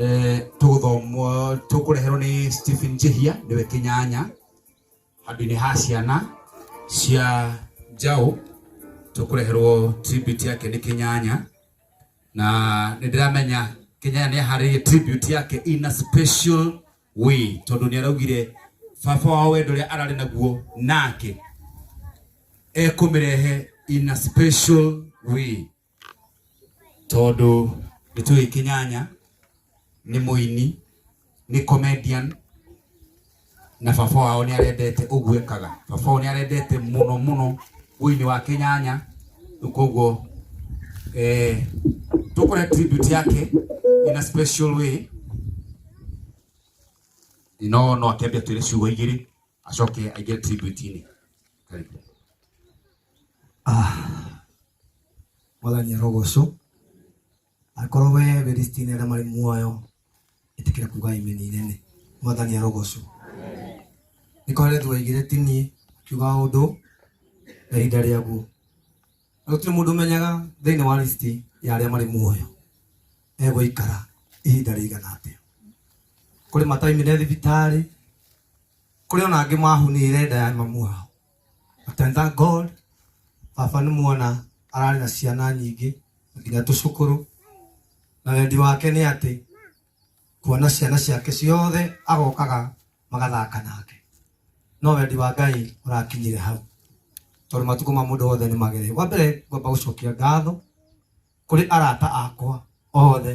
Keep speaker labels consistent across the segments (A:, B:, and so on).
A: Eh, tũgũthomwo tũkũreherwo nĩ stephen jehia nĩwe kĩnyanya handũ-inĩ ha ciana cia njaũ tũkũreherwo tribute yake nĩ kĩnyanya na nĩ ndĩramenya kĩnyanya nĩ aharĩirie tribute yake in a special way tondũ nĩ araugire baba wao wendo ũrĩa ararĩ naguo nake ekũmĩrehe in a special way tondũ nĩ tũĩ kĩnyanya nĩ mũini nĩ comedian na baba wao nĩ arendete ũguo ekaga baba wao nĩ arendete mũno mũno ũini wa kĩnyanya rĩu koguo eh, tũkore tribute yake in a special way no no akĩambia twĩre ciugo igĩrĩ acoke aingĩre tribute-inĩ Karibu.
B: mwathani arogocwo akorwo we berisitini arĩa marĩ muoyo ĩtĩkĩra kuga imeni inene mwathani arogocwo nĩkware thwaigire tini kiuga ũndũ na ihinda rĩaguo na gũtirĩ mũndũ ũmenyaga thĩinĩ wa lisiti ya arĩa marĩ muoyo egũikara ihinda rĩigana atĩa kũrĩ mataimire thibitarĩ kũrĩ ona angĩ mahunire nda ya mamu wao But I thank God baba nĩ muona ararĩ na ciana nyingĩ nginya tũcukũrũ na wendi wake nĩ atĩ kuona ciana ciake ciothe agokaga magathaka nake no wendi wa ngai ũrakinyire hau tondũ matukũ ma mũndũ wothe nĩ magere wa mbere ngwamba gũcokia ngatho kũrĩ arata akwa othe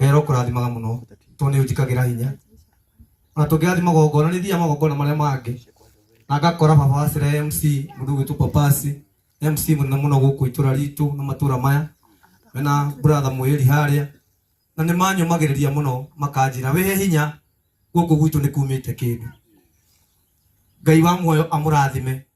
B: wera ũkũrathimaga mũno tondũ nĩ ũnjĩkagĩra hinya ona tũngĩrathiĩ magongona nĩ thiaga magongona marĩa mangĩ na ngakora baba wa cira mc mũndũ gwitũ papasi mc mũnene mũno gũkũ itũra ritũ na matũra maya mena bratha mwĩri harĩa na nĩ manyũmagĩrĩria mũno makanjĩra wĩhe hinya gũkũ gwitũ nĩ kumĩte kĩndũ ngai wa muoyo amũrathime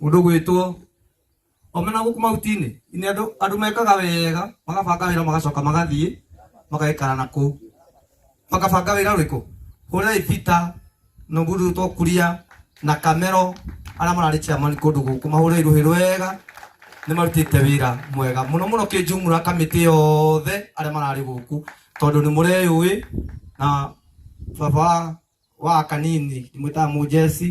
B: Mũndũ gwĩtwo omena gũkũ mahuti-inĩ nĩ andũ andũ mekaga wega magabanga wĩra magacoka magathiĩ magaikara na kũu makabanga wĩra ũrĩkũ hũrĩrai Peter na mũndũ wĩtwo Kuria na Kamero arĩa mararĩ chairman kũndũ gũkũ mahũrĩrai rũhĩ rwega nĩ marutĩte wĩra mwega mũno mũno kĩnjumura kamĩtĩ yothe arĩa mararĩ gũkũ tondũ nĩ mũreyũĩ na baba wa wa kanini ndimwĩtaga mũjeci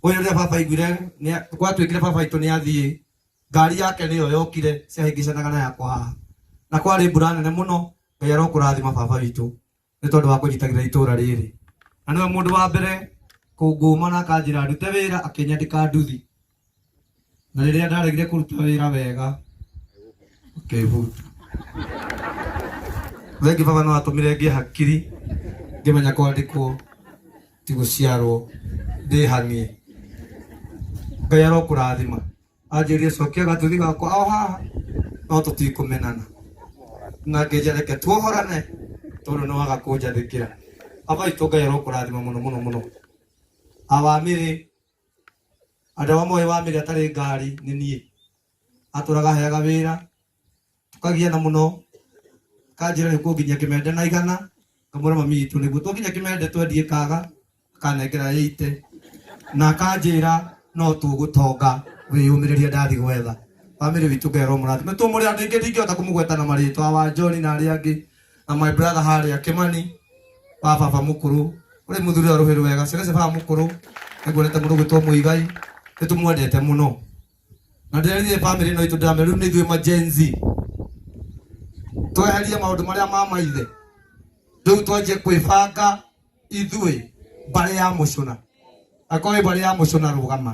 B: ũyũ rĩrĩa baba aiguire nĩa- gwatuĩkire baba aitũ nĩ athiĩ ngari yake nĩyo yokire ciahĩngĩcanaga na yakwa haha na kwarĩ mbura nene mũno ngai arokũrathima baba witũ nĩ tondũ wa kũnyitagĩrĩra itũũra rĩrĩ na nĩwe mũndũ wa mbere kũngũma na akanjĩra ndute wĩra akĩnyandĩka nduthi na rĩrĩa ndaregire kũruta wĩra wega ngĩhuta rĩngĩ baba no atũmire ngĩe hakiri ngĩmenya kwandĩkwo ti gũciarwo ndĩhanie ngai arokũrathima anjĩrie cokia gatuthi gakwa o haha no tũtikũmenana na ngĩnja reke tuohorane tondũ nĩ waga kũnjathĩkĩra abaitũ ngai arokũrathima mũno mũno mũno awamĩrĩ Andũ arĩa moĩ wa mĩrĩ atarĩ ngari nĩ niĩ. Atũraga heaga wĩra, tũkagiana mũno, akanjĩra nĩ kũnginyia kĩmende na igana, ngamwĩra mami witũ nĩguo. Twakinya kĩmende twendie kaga, akanengera ĩite, na akanjĩra no tũgũtonga, wĩyũmĩrĩrie ndathi gwetha. Bamĩrĩ witũ Ngai aromũrathima. Twĩ mũrĩ andũ aingĩ ndingĩhota kũmũgweta na marĩtwa, Wanjoni na arĩa angĩ. na my brother harĩa Kimani wa baba mũkũrũ ũrĩ mũthuri wa rũhĩrĩ wega ciana cia baba mũkũrũ nĩguonete mũndũ gwĩtwo Mũigai nĩtũmwendete mũno na ndĩrerire bamĩrĩ ĩno itũ ndamere rĩu nĩ ithuĩ ma Gen Z tweherie maũndũ marĩa ma maithe rĩu twanjie kwĩbanga ithuĩ mbarĩ ya mũcũna akorwo ĩ mbarĩ ya mũcũna rũgama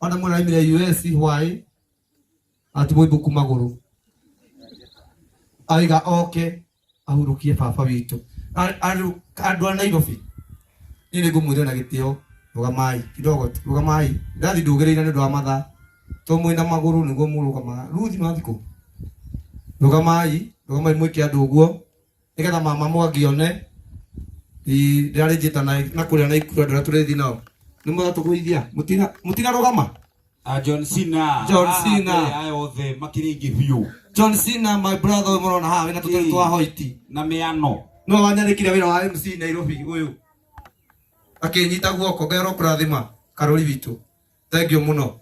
B: ona mwana aimire US hwaĩ atimwo ibuku magũrũ aiga oke ahurũkie baba witũ A- andũ andũ a Nairobi niĩ nĩ ngũmwĩrĩra na gĩtĩo rũgamai kidogo tu rũgamai ndathi ndũgĩrĩire nĩ ũndũ wa mathaa to mwĩna magũrũ nĩguo mũrũgamaga ruthi mathikũ rũgamai rũgamai mwĩke andũ ũguo nigetha mama mwangi one ndĩrarĩ njĩta na na kũrĩa na ikuru andũ arĩa tũrĩthi nao nĩ mũratũgũithia Mũtina- mũtinarũgama Ah, John Cena.
A: John Ah, Cena. kwĩ aya othe makĩrĩ aingĩ biũ john cena my
B: brother ũyũ mũrona haha wĩna tũtarĩ twa hoiti na mĩano.
A: no wanyarĩkire
B: wĩra wa mc nairobi ũyũ akĩnyita guoko ngai arokũrathima karũri witũ thank you muno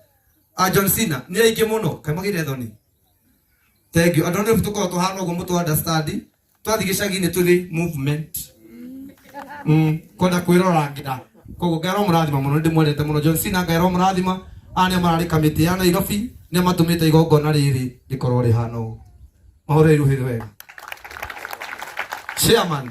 B: a John Cena ni aingi muno kai magire thoni thank you andu ni tuko to hano go mutu understand twathi gicagi ni tuthi movement mm kwenda kwirora ngida kogo ngero murathima muno ndi mwendete muno John Cena ngero murathima ane marari kamiti ya Nairobi ni matumite igongona riri rikorwo rihana uguo mahoro iruhirwe wega chairman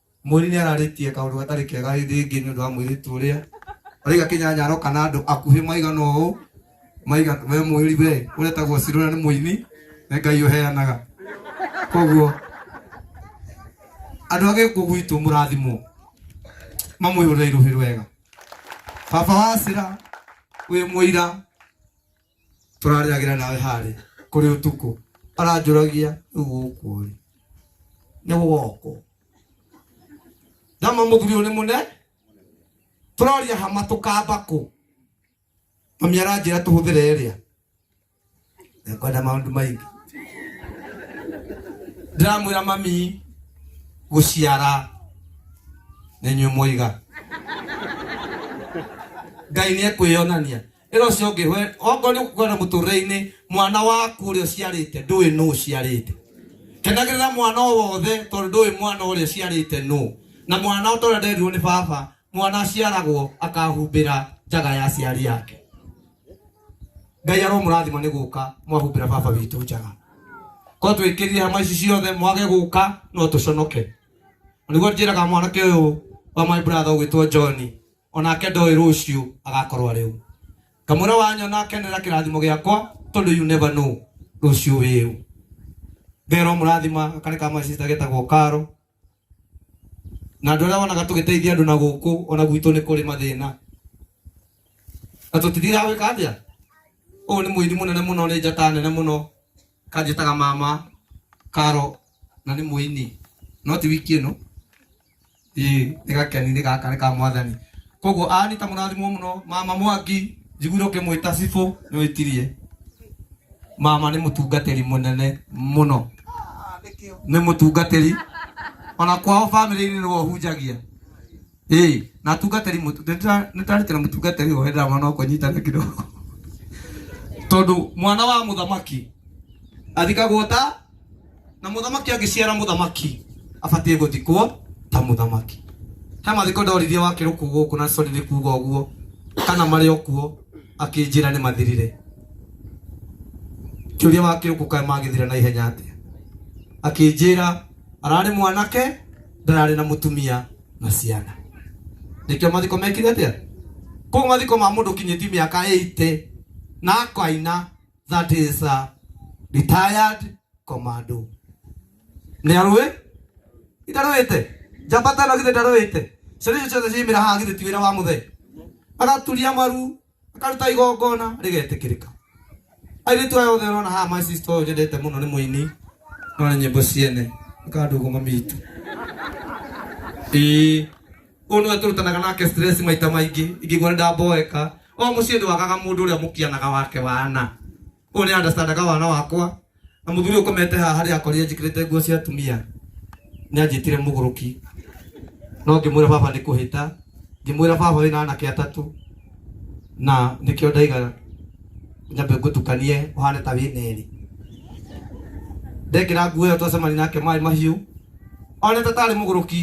B: Mweri nĩ ararĩtie kaũndũ gatarĩ kega rĩngĩ nĩ ũndũ wa mũirĩtu ũrĩa ũraiga kĩnyanya aroka na andũ akuhĩ maigana ũũ maiga we mweri we ũretagwo cirũra nĩ mũini nĩ ngai ũheanaga koguo andũ a gĩkũ gwitũ mũrathimwo mamwĩhũrĩra irũhĩ rwega baba wa cira wĩ mũira tũrarĩagĩra nawe harĩ kũrĩ ũtukũ aranjũragia rĩu gũkũ rĩ nĩ woko nama mũthuri ũyũ nĩ mũne tũroria hama tũkamba kũ mami aranjĩra tũhũthĩre ĩrĩa ekwenda maũndũ maingĩ ndĩramwĩra mami gũciara nĩ nyuĩ mwaiga ngai nĩ ekwĩyonania ĩra ũcio ũngĩ we- okorwo nĩ kwenda mũtũrĩre-inĩ mwana waku ũrĩa ũciarĩte ndũĩ nũ ũciarĩte kenagĩrĩra mwana o wothe tondũ ndũĩ mwana ũrĩa ũciarĩte nũ na mwana o ta ũrĩa nderirwo nĩ baba mwana aciaragwo akahumbĩra njaga ya aciari yake ngai aromũrathima nĩ gũka mwahumbĩra baba witũ njaga korwo twĩkĩrire hama ici ciothe mwage gũka no tũconoke nĩguo njĩraga mwanake ũyũ wa my brother ũgwĩtwo john o nake ndoĩ rũciũ agakorwo arĩ ũ kamũra wanyo nakenera kĩrathimo gĩakwa tondũ you never know rũciũ wĩ ũ ngero mũrathima karĩ ka macista getagwo karo na andå arä a wonaga tå gä teithia andå na gå kå ona gwitå nä kå rä mathä na na tå tithiraga gwä ka atä a å yå nä må ini må nene må no nä njata nene må no kanjĩtaga mama karo na nĩ mũini no ti wiki ĩno ĩĩ nĩ gakeni nĩ gaka nĩ ka mwathani koguo ani ta mũrathimwo mũno mama mwangi njiguire ũkĩmwĩta cibũ nĩ wĩtirie mama nĩ mũtungatĩri mũnene mũno nĩ mũtungatĩri ona kwao bamĩrĩ-inĩ nĩwe ũhunjagia ĩĩ na atungatĩri mũtu- nĩndĩra- nĩndarĩtĩra mũtungatĩri ũyũ hĩndĩra mwana wakwa nyitana kidogo tondũ mwana wa mũthamaki athikagwo ta na mũthamaki angĩciara mũthamaki abatiĩ gũthikwo ta mũthamaki he mathiko ndoririe wakĩrũ kũ gũkũ na sorry nĩ kuga ũguo kana marĩ okuo akĩnjĩra nĩ mathirire kĩũria wakĩrũ kũ kaĩ magĩthira na ihenya atĩa akĩnjĩra ararĩ mwanake ndararĩ na mũtumia na ciana nĩkĩo mathiko mekire atĩa kũu mathiko ma mũndũ kinyĩti mĩaka 80 na akaina that is a retired commando nĩ arũĩ itarũĩte njamba tano githĩ ndarũĩte ciana icio ciothe ciimĩra haha githĩ ti wĩra wa mũthee agaturia maru akaruta igongona rĩgetĩkĩrĩka airĩtu aya othe ũrona haha my sister ũyũ njendete mũno nĩ mũini no nĩ nyĩmbo ciene akandũgũ mami itũ ĩĩ ũyũ nĩwe tũrutanaga nake stress maita maingĩ ingĩgua nĩ ndamboeka o mũciĩ ndwagaga mũndũ ũrĩa mũkianaga wake wana ũyũ nĩ andastandaga wana wakwa na mũthuri ũkomete haha harĩa akorire njĩkĩrĩte nguo cia atumia nĩ anjĩtire mũgũrũki no ngĩmwĩra baba nĩ kũhĩta ngĩmwĩra baba wĩna anake atatũ na nĩkĩo ndaiga nyambe ngũtukanie ũhane ta wĩna erĩ ndekĩra nguo ĩyo twacemani nake maĩ mahiũ onete tarĩ mũgũrũki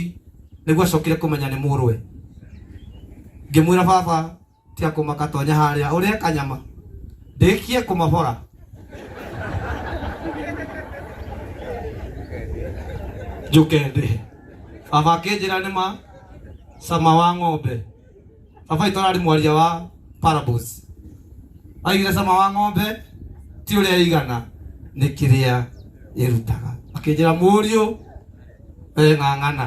B: nĩguo acokire kũmenya nĩ mũrũwe ngĩmwĩra baba Cia kũmaka tonya harĩa ũrĩa kanyama ndĩkie kũmabora njũke ndĩhe baba akĩnjĩra nĩ ma cama wa ng'ombe baba itũ ararĩ mwaria wa parables aigire cama wa ng'ombe ti ũrĩa ĩigana nĩ kĩrĩa ĩrutaga akĩnjĩra mũriũ weng'ang'ana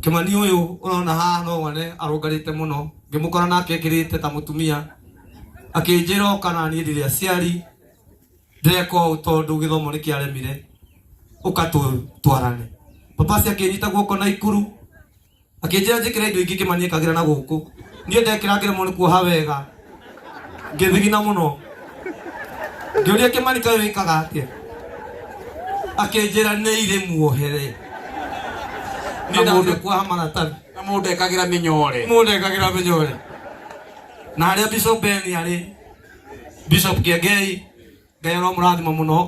B: kimani uyu urona haha no wone arungarite muno ngimukora nake ekirite ta mutumia akinjira okana ni ndiri aciari ndeka ũũ tondũ gĩthomo nĩ kĩaremire ũkatwarane papa ci akĩnyita guoko na ikuru akĩnjĩra njĩkĩre indo ingĩ kĩmani ekagĩra na gũkũ niĩ ndekĩra ngĩremwo nĩ kuoha wega ngĩthigina mũno ngĩũria kĩmani kaĩ wĩkaga atĩa akĩnjĩra nĩ irĩ muohere Na nĩ mũndũ- ndathekwa maratani na mũndũ ekagĩra
A: mĩnyore mũndũ ekagĩra mĩnyore
B: na harĩa bishop ben arĩ bishop kĩengei ngai aramũrathima mũno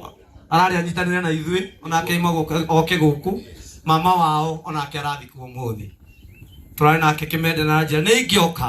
B: ararĩ anyitanĩre na ithuĩ onake aima gũka- oke gũkũ mama wao onake arathikwo ũmũthĩ tũrarĩ nake kĩmende na njĩra nĩ ingĩoka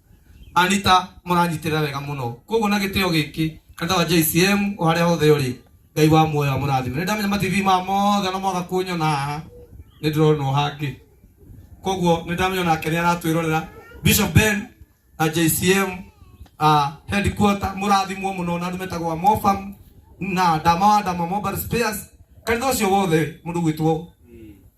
B: anita mũranyitirira wega muno koguo na gitio giki kata wa JCM o haria hothe uri ngai wa muoyo amurathime ni ndamenya mativi ma mothe no mwaga kunyona haha ni ndironwo hangi koguo ni ndamenya nake ni aratwirorera Bishop Ben na JCM uh, headquarter murathimwo muno na ndumetagwa Mofam na ndama wa ndama Mobile Spares kanitha ucio wothe mundu gwitwo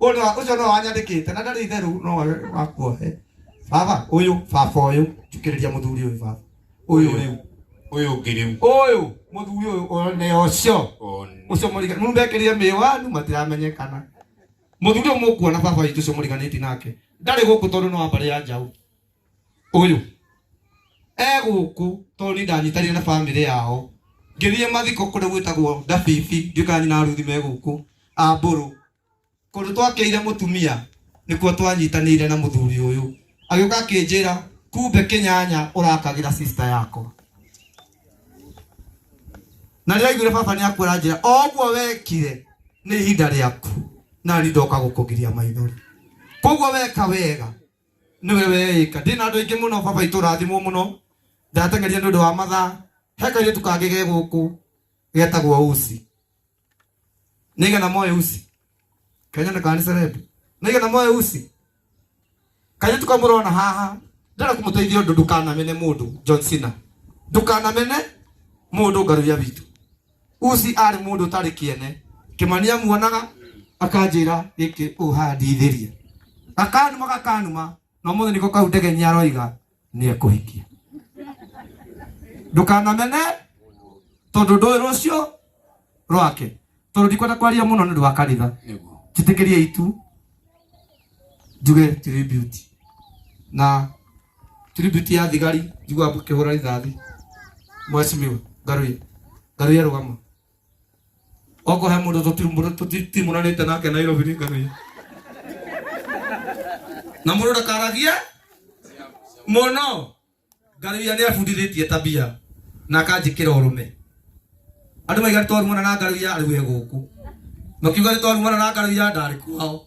B: Ũndũ wa ũcio no anyandĩkĩte na ndarĩ itherũ no we wakuo he. Baba ũyũ, baba ũyũ, njũkĩrĩria mũthuri ũyũ baba. Ũyũ rĩu. Ũyũ ũngĩ rĩu. Ũyũ mũthuri ũyũ one ũcio. One. Ũcio mũrigani. Mũndũ ekĩrire mĩwanu matiramenyekana. Mũthuri ũyũ mũkuona baba witũ ũcio mũriganĩti nake. Ndarĩ gũkũ tondũ no wa mbarĩ ya njaũ. ũyũ e gũkũ tondũ nĩ ndanyitanire na bamĩrĩ yao ngĩthiĩ mathiko kũrĩa gwĩtagwo ndabibi ndiũĩ kana nyina ruthi me gũkũ ambũrũ kũndũ twakĩire mũtumia nĩkuo twanyitanĩire na mũthuri ũyũ agĩũka akĩnjĩra kumbe kĩnyanya ũrakagĩra sister yakwa na rĩrĩa aiguire baba nĩ akuo aranjĩra o ũguo wekire nĩ ihinda rĩaku na niĩ ndoka gũkũgiria maithori koguo weka wega nĩwe weĩka ndĩ na andũ aingĩ mũno baba itũ rathimwo mũno ndateng'erire nĩ ũndũ wa mathaa he kairĩtu kangĩ ge gũkũ getagwo usi nĩgetha moe usi kenyone kana nĩ cerebu nĩgetha moe usi kairĩtu kau mũrona haha ndĩrenda kũmũteithia ũndũ ndũkanamene mũndũ John Cena ndũkanamene mũndũ ngaruya witũ usi arĩ mũndũ ũtarĩ kĩene kĩmani amuonaga akanjĩra gĩkĩ ũhandithĩria gakanuma gakanuma na mũthĩ nĩko kau ndege nĩ aroiga nĩ ekũhikia ndũkanamene tondũ ndũĩ rũciũ rwake tondũ ndikwenda kwaria mũno nĩ ũndũ wa kanitha Nĩguo. njĩtĩkĩrie itu njuge tribute na Tribute ya thigari njigua kĩhũra rithathi. Mheshimiwa Ngaruya. Ngaruya rũgama. Oko he mũndũ tũtimu- tũtimuranĩte nake Nairobi nĩ Ngaruya. Na mũndũ ndakaragia mũno. Ngaruya nĩ abundithĩtie tabia na akanjĩkĩra ũrũme. Andũ maiga nĩ twarumana na Ngaruya rĩu e gũkũ. Makiuga nĩ twarumana na Ngaruya ndarĩ kwao.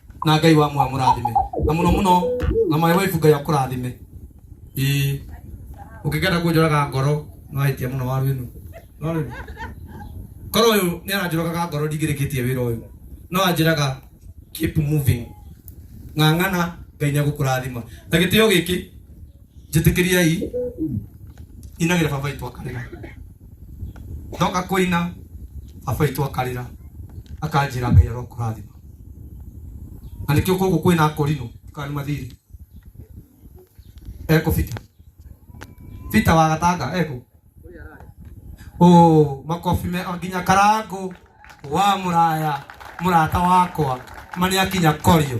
B: na ngai wa mwa mũrathime na mũno mũno na maĩ waibu ngai akũrathime ĩĩ ũkĩgenda kũnjũraga ngoro nĩwahĩtia mũno waru ĩno No rĩu, korwo ũyũ nĩ aranjũragaga ngoro ndingĩrĩkĩtie wĩra ũyũ no anjĩraga keep moving ng'ang'ana ngai nĩagũkũrathima na gĩtĩo gĩkĩ njĩtĩkĩriai inagĩra baba itũ akarĩra ndoka kũina baba itũ akarĩra akanjĩra ngai arokũrathima na nĩkĩo kũgũ kwĩna akorinũ kana mathiri eko bita bita wa gatanga eko o makobi me nginya karango wa mũraya mũrata wakwa mani akinya korio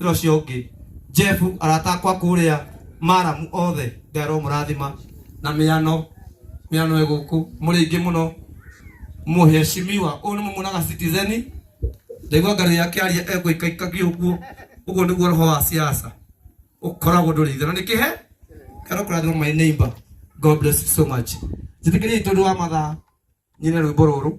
B: ira ucio ungi jeff arata akwa kuria maramu othe ngai aromurathima na miano miano iguku muri ingi muno muheshimiwa uyu ni mumunaga citizeni ndaigua ngari yake aria egwikaikagia uguo uguo niguo roho wa siasa ukoragwo nduri ithe na nä kä he karo kå rathima my neighbor god bless you so much njä tä kä ria itå ndå wa mathaa nyine rwä mbo rå rå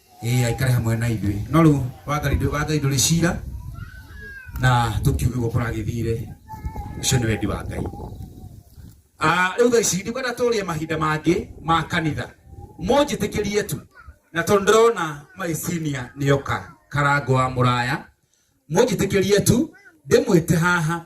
A: ĩĩ aikare hamwe na ithuĩ no rĩu wathani ndũ- wathani ndũrĩ cira na tũkiuge ũguo kũragĩthire ũcio nĩ wendi wa ngai Ah, rĩu thaa ici ndikwenda tũrie mahinda mangĩ ma kanitha mũnjĩtĩkĩrie tu na tondũ ndĩrona maicinia nĩoka karango wa mũraya mũnjĩtĩkĩrie tu ndĩmwĩte haha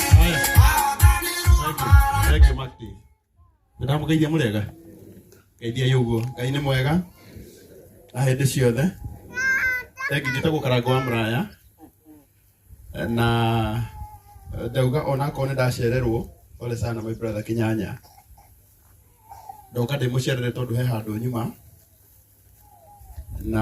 C: Haya. Thank you, Maki. Nĩndamũgeithia mũrĩega. Geithia ĩ ũguo. Ngai nĩ mwega. Na hĩndĩ ciothe. Thank you, njĩtagwo Karango wa Mũraya. Na eh, ndauga ona akorwo nĩ ndacererwo ole sana my brother Kinyanya. Ndoka ndĩmũcerere tondũ he handũ nyuma. Na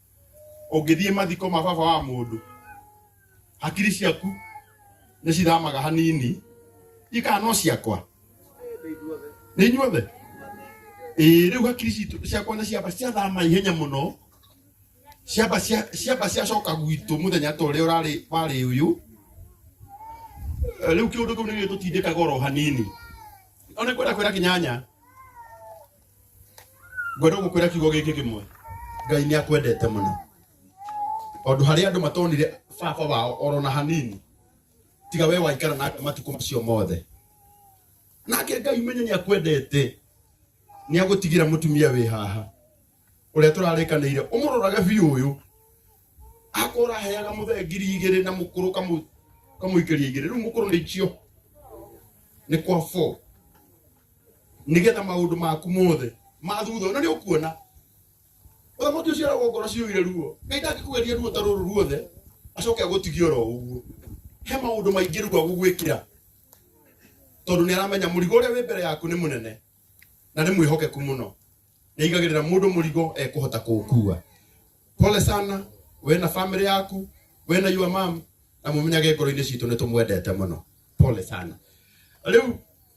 C: ũngĩthiĩ mathiko ma baba wa mũndũ hakiri ciaku nĩ cithamaga hanini ikaa no ciakwa nĩ inyuothe ĩĩ rĩu hakiri citũ ciakwa nĩ ciamba ciathama ihenya mũno ciamba cia- ciamba ciacoka gwitũ mũthenya ta ũrĩa ũrarĩ warĩ ũyũ Eh, rĩu kĩũndũ kĩu nĩ gĩtũtindĩkaga oro hanini ona kwenda kwĩra kĩnyanya ngwenda gũkwĩra kiugo gĩkĩ kĩmwe ngai nĩ akwendete mũno tondũ harĩa andũ matonire baba wao orona hanini tiga we waikara nake matukũ macio mothe nake ngai menye nĩ akwendete nĩ agũtigĩra mũtumia wĩ haha ũrĩa tũrarĩkanĩire ũmũrorage biũ ũyũ akorwo ũraheaga mũthee ngiri igĩrĩ na mũkũrũ kamũ- kamũikĩria igĩrĩ rĩu mũkũrũ nĩ ikio nĩ kwa four nĩgetha maũndũ maku mothe ma thutha ũno nĩ ũkuona ũthamaki ũcio aragwo ngoro ciũire ruo ngai ndangĩkũgeria ruo ta rũrũ ruothe acoke agũtigie oro ũguo he maũndũ maingĩ rĩu agũgwĩkĩra tondũ nĩ aramenya mũrigo ũrĩa wĩ mbere yaku nĩ mũnene na nĩ mwĩhokeku mũno nĩ aigagĩrĩra mũndũ mũrigo ekũhota kũũkua pole sana we na family yaku we na your mom na mũmenyage ngoro-inĩ citũ nĩ tũmwendete mũno pole sana rĩu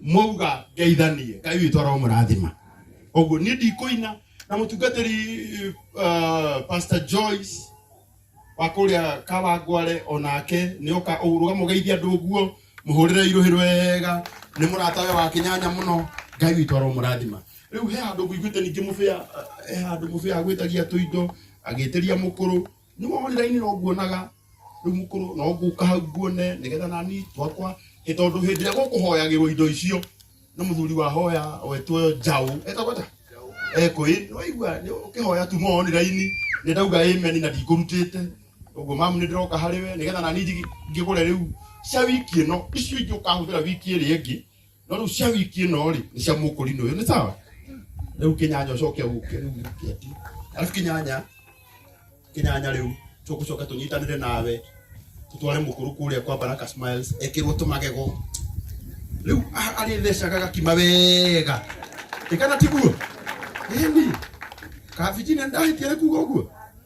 C: mwauga ngeithanie ngai witũ aromũrathima ũguo niĩ ndikũina na mũtungatĩri uh, pastor joyce wa kũrĩa kawangware onake nĩ oka ũrũga mũgeithia andũ ũguo mũhũrĩre irũhĩ rwega nĩ mũrata we wa kĩnyanya mũno ngai witũ aromũrathima rĩu he handũ ngũiguĩte ningĩ mũbĩa eh, he handũ mũbĩa agwĩtagia tũindo agĩtĩria mũkũrũ nĩ wonire ini no nguonaga rĩu mũkũrũ no ngũka hau nguone nĩgetha nani twakwa ĩ tondũ hĩndĩ ĩrĩa gũkũhoyagĩrwo indo icio na mũthuri wahoya wetwo njaũ etagwo ta ekũĩ nĩwaigua ũkĩhoya tu monire ini nĩ ndauga ĩmeni na ndikũrutĩte ũguo mamu nĩ ndĩroka harĩ we nĩgetha nani njigi- ngĩgũre rĩu cia wiki ĩno icio ingĩ ũkahũthĩra wiki ĩrĩa ĩngĩ no rĩu cia wiki ĩno rĩ nĩ cia mũkũrinũ ũyũ nĩ sawa rĩu kĩnyanya ũcoke ũke rĩu ũkĩati arabu kĩnyanya kĩnyanya rĩu tũgũcoka tũnyitanĩre nawe tũtware mũkũrũ kũrĩa kwa baraka smiles ekĩrwo tũmagego rĩu a- arĩthecaga gakima wega ĩkana tiguo ĩni kabijina ndahĩtia nĩ kuga ũguo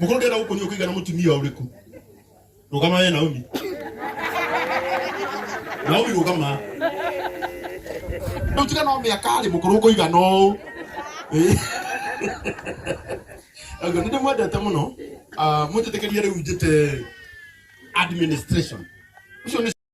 C: Mũkorwo ndĩrenda gũkũnyua kũigana mũtumia ũrĩkũ. Rũgama we Naomi. Naomi rũgama. Rĩu tiga no mĩaka rĩ mũkorwo kũigana ũũ. Ĩĩ. Ũguo nĩ ndĩmwendete mũno. Ah, Mũnjĩtĩkĩrie rĩu njĩte administration. Ũcio nĩ